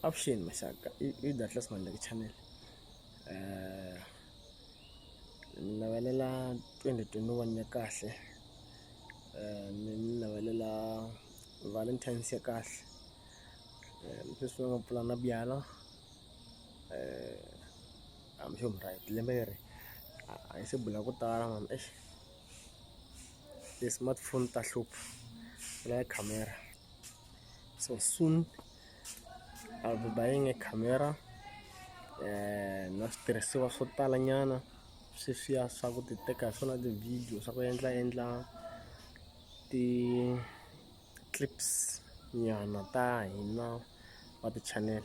avuxeni maxaka i datlas mandlaki channel um ni navelela twenty twenty one ya kahle um ni navelela valentines ya kahle um sweswi va nga pfula na byala um hambi xo mura lembe leri a hi se bula ku tala mama exi ti-smartphone ta hlupha ku lava camera so soon I'll be buying a camera na switirhisiwa swo tala nyana sweswiya swa ku ti teka hi swona ti-video swa ku endla endla ti-clips nyana ta hina va ti-channel .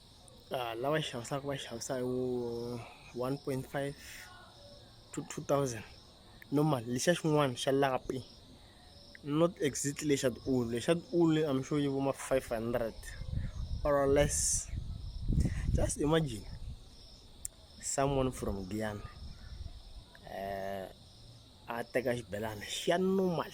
lava xavisaka va xavisa hi wu one point five to two thousand normal lexiya xin'wana xa lapi not exactly lexa tiulu lexa tiulu I'm sure yi vo ma five hundred or less just imagine someone from Giyani a teka xibelani xa normal.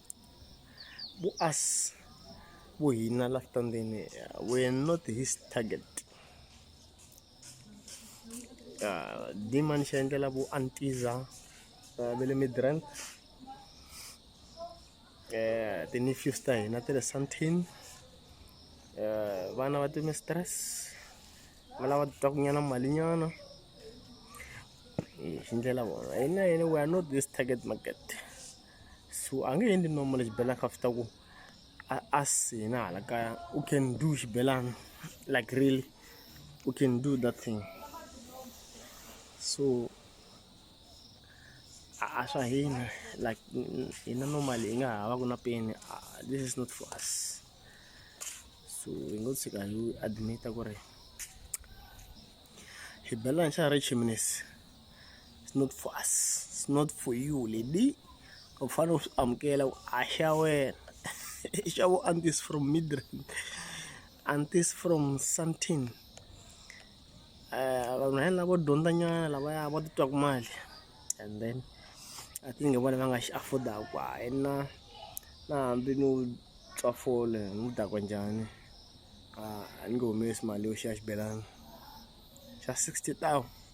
Bu as bu hina la tandini were not his target. Uh, Diman siya hindi bu antiza uh, bili mi drent. Uh, tini fuse tayo na tira santin. Uh, bana wati mi stress. Malawa tok niya na mali niya na. Hindi la bu. Ayun na, ayun, we are not this target market. so a nge endli nomo lexi belaka after ku a, a sina hala kaya u can do xibelana like really u can do that thing so a swa hina like hina normally hi nga ha va ku na peni this is not for us so hi ngo tshika hi admita ku ri hi bela nxana ri chiminisi it's not for us it's not for you lady u fanele u swi amukela ku a xa wena i xa vo antis from midrand antis from santin um vanhu hela vo dyondzanyana lavaya va titwaku mali and then i think hi vona va nga xi affordaku ku hayi na na hambi ni wu twa fole ni wu dakwa njhani a ni nge humesi mali yo xiya xibelani xa sixty thousand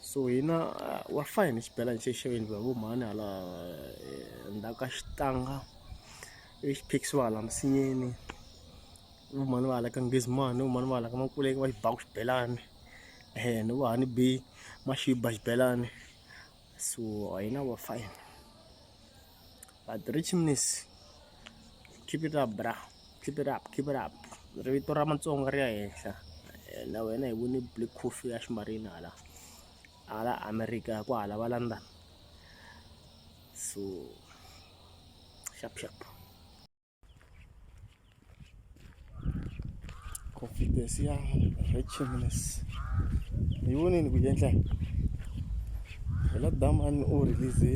so hina wa fa hi ni xibelani xexo hi endliwa hi vo mhani hala eh, ndzhaku ka xitanga ivi xi phikisiwa hala misinyeni vo mhani va hala ka ngizimani vo mhani va hala ka makuleke va xi baku xibelani um ni vo hani bi maxiba xibelani so hina wa fine but rich miss keep it up bra keep it up keep it up ri vito ra matsonga ri ya henhla na wena hi vone black coffee ya ximarina hala hala america ku hala va london so sharp sharp confidence ya richness hi voneni ku endla hi la damani u release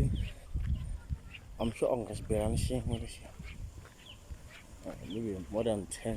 i'm sure a nga xibelani xin'we lexi maybe more than ten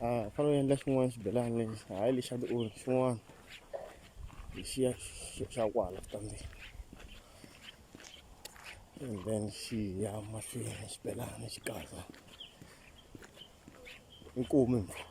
a ah, fana u endla xin'wana xibelani lexi hayi lexi xa tiori xin'wana lexiya xa kwala kambe and then xi ya mahlweni xibelani xi kahle inkomu impfula